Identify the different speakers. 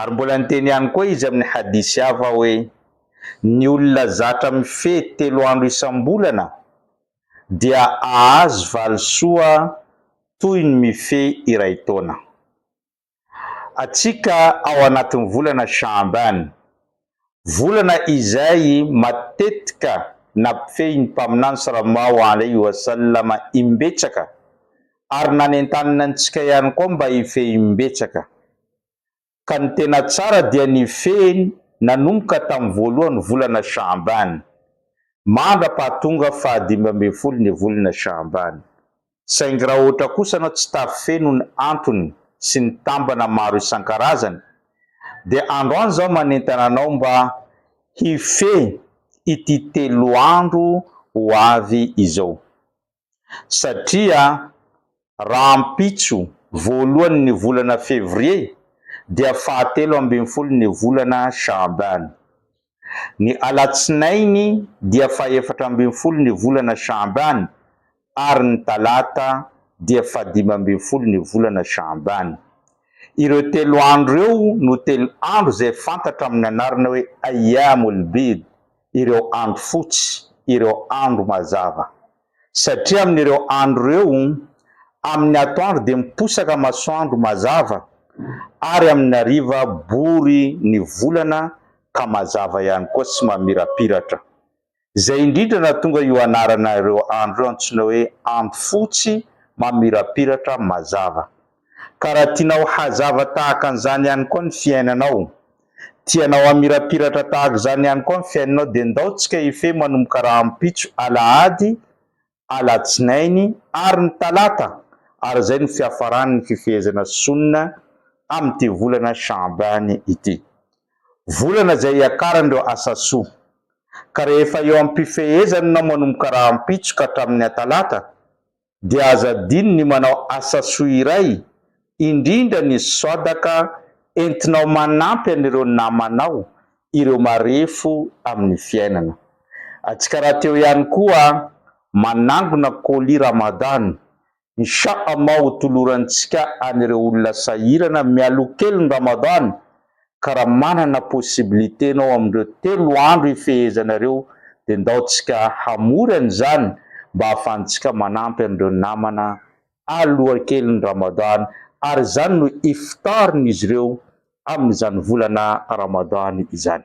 Speaker 1: Ary mbola niteny ihany koa izy amin'ny hadisy hafa hoe, Ny olona zatra mifehy telo andro isam-bolana dia ahazo valisoa toy ny mifehy iray taona. Atsika ao anatin'ny volana Sha'aban, Volana izay matetika nampifehin'ny Mpaminany sy Ramao Henri Wasalama imbetsaka ary nanentanina antsika ihany koa mba hifehy imbetsaka. Ka ny tena tsara dia nifehiny nanomboka tamin'ny voalohan'ny volana Sha'ban, mandra-pahatonga fahadimy ambin'ny folo ny volana Sha'ban. Saingy raha ohatra kosa ianao tsy tavy feno ny antony sy ny tambana maro isan-karazany dia andro any izaho manentana anao mba hifehy ity telo andro ho avy izao. Satria rahampitso voalohany ny volana Février dia fahatelo ambin'ny folo ny volana Chaabane. Ny alatsinainy dia fahefatra ambin'ny folo ny volana Sha'ban ary ny talata dia fahadimy ambin'ny folo ny volana Sha'ban. Ireo telo andro ireo no telo andro izay fantatra amin'ny anarana hoe Ayyamul-Bid, ireo andro fotsy, ireo andro mazava. Satria amin'ireo andro ireo, amin'ny atoandro dia miposaka masoandro mazava, ary amin'ny hariva bory ny volana ka mazava ihany koa sy mamirapiratra. Izay indrindra nahatonga io anarana ireo andro ireo antsoina hoe andro fotsy mamirapiratra mazava. Ka raha tianao hazava tahaka an'izany ihany koa ny fiainanao, tianao hamirapiratra tahaka izany ihany koa ny fiainanao dia ndao tsika hifehy manomboka rahampitso, alahady, alatsinainy ary ny talata ary izay no fiafaran'ny fifehezana sonina amin'ity volana Sha'ban ity. Volana izay hiakaran'ireo asa soa. Ka rehefa eo am-pifehezananao manomboka rahampitso ka hatramin'ny atalata dia aza adino ny manao asa soa iray, indrindra ny swadaka entinao manampy an'ireo namanao, ireo marefo amin'ny fiainana. Atsikara teo ihany koa manangona colis Ramadan, Insha Allah hotolorantsika an'ireo olona sahirana mialoha kelin'ny Ramadan ka raha manana possibilité nao amin'ireo telo andro ifehezanareo dia ndaotsika hamorana izany mba hahafantsika manampy an'ireo namana alohakelin'ny Ramadan ary izany no iftarin'izy ireo amin'izany volana Ramadan izany.